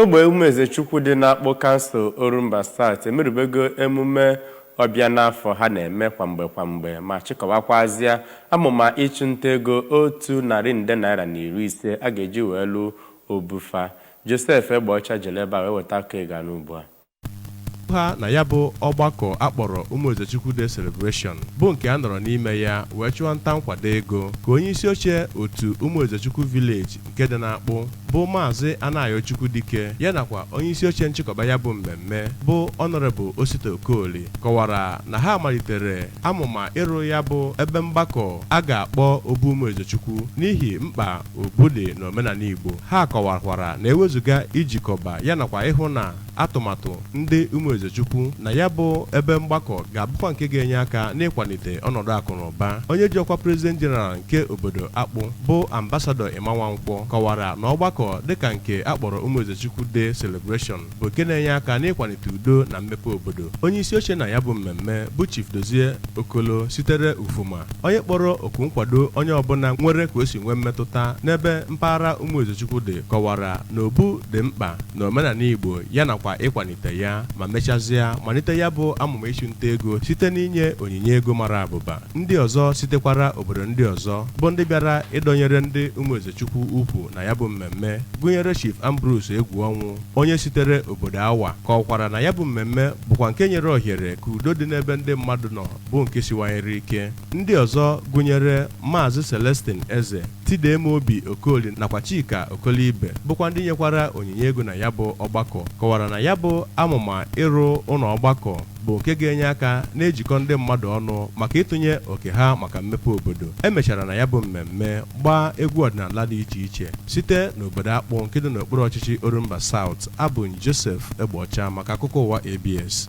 Ogbe Ụmụezechukwu dị n'Akpụ Kansụl Orumba South emerubego emume ọbịa n'afọ ha na-eme kwa mgbe kwa mgbe ma chịkọwakwazịa amụma ịchụ nta ego otu narị nde naira na iri ise a ga-eji wee lụ obu fa. Joseph Egbeọcha jelu ebe a wee weta akụkọ ị ga-anụ ugbu a. ha na ya bụ ọgbakọ a kpọrọ Ụmụezechukwu Day Celebration bụ nke a nọrọ n'ime ya wee chụọ nta nkwado ego ka onye isi oche otu Ụmụezechukwu Village nke dị n'Akpụ bụ maazị Anayochukwu Dike ya nakwa onye isi oche nchịkọba ya bụ mmemme bụ Honorable Osita Okoli kọwara na ha malitere amụma ịrụ ya bụ ebe mgbakọ a ga-akpọ Obu Ụmụezechukwu n'ihi mkpa obu dị na omenala Igbo ha kọwakwara na ewezuga ijikọba ya nakwa ịhụ na atụmatụ ndị Umuezechukwu na ya bụ ebe mgbakọ ga-abụkwa nke ga-enye aka n'ịkwalite ọnọdụ akụ na ụba. Onye ji ọkwa President General nke obodo Akpụ bụ Ambassador Emma Nwankwo kọwara na ọgbakọ dịka nke a kpọrọ Umuezechukwu Day Celebration bụ nke na-enye aka n'ịkwalite udo na mmepe obodo. Onye isi oche na ya bụ mmemme bụ Chief Dozie Okolo sitere Ufuma onye kpọrọ oku nkwado onye ọbụla nwere ka o si nwee mmetụta n'ebe mpaghara Ụmụezechukwu dị kọwara na obu dị mkpa na omenala Igbo ya nakwa ịkwalite ya ma mechazịa malite ya bụ amụma ịchụ nta ego site n'inye onyinye ego mara abụba ndị ọzọ sitekwara obodo ndị ọzọ bụ ndị bịara ịdọnyere ndị Ụmụezechukwu ụkwụ na ya bụ mmemme gụnyere Chief Ambrose Egwuọnwụ onye sitere obodo Awa kọwakwara na ya bụ mmemme bụkwa nke nyere ohere ka udo dị n'ebe ndị mmadụ nọ bụ nke siwanyere ike ndị ọzọ gụnyere Maazị Celestine Eze Tidemobi Okoli nakwa Chika Okolibe bụkwa ndị nyekwara onyinye ego na ya bụ ọgbakọ kọwara na ya bụ amụma ịrụ ụlọ ọgbakọ bụ nke ga-enye aka na-ejikọ ndị mmadụ ọnụ maka ịtụnye oke ha maka mmepe obodo e mechara na ya bụ mmemme gbaa egwu ọdịnala dị iche iche site n'obodo Akpụ nke dị n'okpuru ọchịchị Orumba South abụ Joseph Egbeọcha maka akụkọ ụwa ABS